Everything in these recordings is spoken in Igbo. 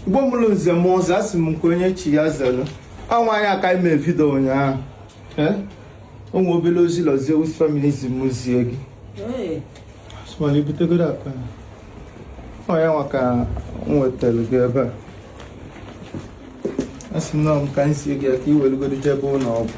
Igbo mụrụ nze mụọ ọzọ asị m nke onye chi ya zere ọ nwaanyị a ka ime vidio ụnyaahụ o nwe obere ozi ụlọ Zeus family si m zie gị so mana ibutegodo akpa ọ ya nwa ka m wetara gị ebe a asị m na m ka m sie gị ya ka i welugodo jebe ụlọ ọgwụ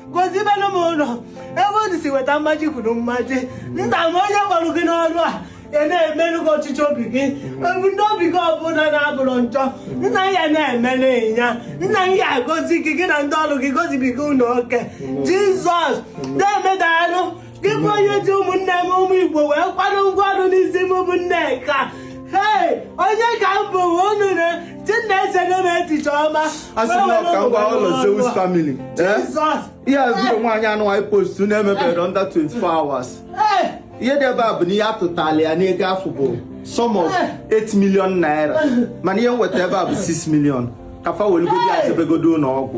gozibelu m unu ebe unu si weta mmaji kwuru mmaji nna m onye kpọrọ gị n'ọrụ a ị na-emere gị ọchịchọ obi gị ebumnobi gị ọbụla na-abụrọ njọ nna ya na-emere ya nna ya gozie gị gị na ndị ọrụ gị gozibiga unu oke jizọs nna m daalụ gị bụ onye ji ụmụnne m ụmụ igbo wee kwado ngwa ọrụ n'isi m bụ nneka ee onye ka m bụ unu na chineke nye m echiche ọma asị m ka m gwa ụlọ Zeus family eh? ihe azụrụ nwaanyị anụ anyị post na-emebere under 24 hours ihe dị ebe a bụ na ihe atụtala ya n'ego afụ bụ sum of 8 million naira mana ihe m weta ebe a bụ 6 million ka fa welugodi ya jebegodo ụlọ ọgwụ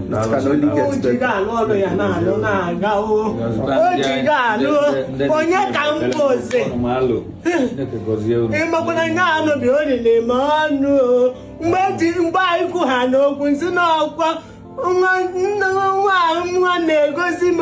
onye ka m bụzi ịmakwana nye anụbi o riri ma ọnụ mgbe anyị kwu ha n'okwu m sị na ọkwa nwa na-egosi m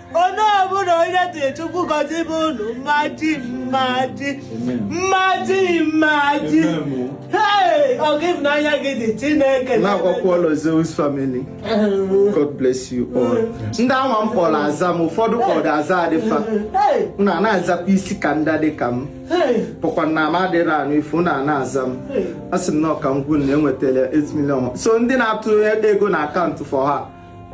onye ọbụla onye tiri chukwu gozibe unu mmaji mmaji mmaji mmaji hey ọ gị n'anya gị dị chineke na-agwakwa ụlọ Zeus family God bless you all ndị anwa m kpọrọ aza m ụfọdụ kpọrọ aza adịfa na na-azakwa isi ka ndị dị ka m bụkwa na m adịrị anụ ifu na na-aza m a sị m na ka m gwa unu na enwetara 8 million so ndị na-atụ ego na akaụntụ for her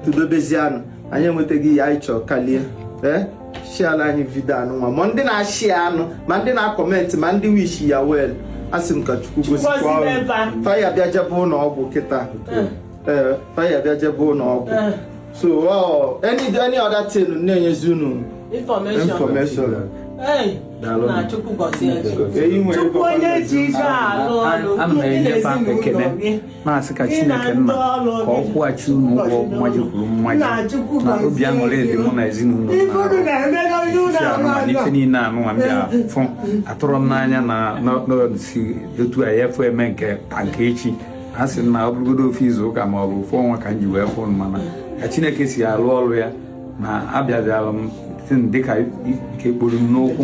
tụdobezianụ anyị enwetago ihe anyị chọrọ kalie ee sharela anyị vidio anụ nwa ma ndị na-ashare anụ ma ndị na-acomment ma ndị wish ya well asị m ka chukwu gozikwa unu fa ya-abịa jebe ụlọ ọgwụ kịta ee eh, fa ya-abịa jebe ụlọ ọgwụ eh. so oh, any any other thing na-enyezi unu information chukwu onye ji ike alụ ọrụ ndị na-ezinụlọ gị na-asị ka chineke nna ka ọ kwụghachi unu ụgwọ mmaji kwuru mmaji na obi aṅụrị dị mụ na ezinụlọ n'ife niile anụwa m bịa fụ atụrọ m n'anya na si etu a ya fụ eme nke taa nke echi a sị na ọ bụrụgodo ofu izu ụka ma ọ bụ ofu ọnwa ka m ji wee fụ mana ka chineke si alụ ọrụ ya na abịabịara m dịka ike kporo m n'ụkwụ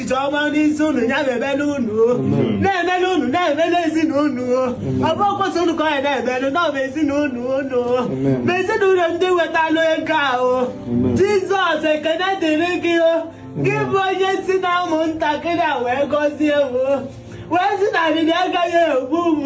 ọma n'isi unu ya na-emele unu na-emele unu na-emele ezinụlọ ọ bụrọkwa sọ unu ka ọ ya na-emele na ọ bụ ezinụlọ unu ma ezinụlọ ndị wetalụ ego ahụ jizọs ekene dịrị gị gị bụ onye si na ụmụntakịrị a wee gọzie m wee sị na arịrị agaghị egbu m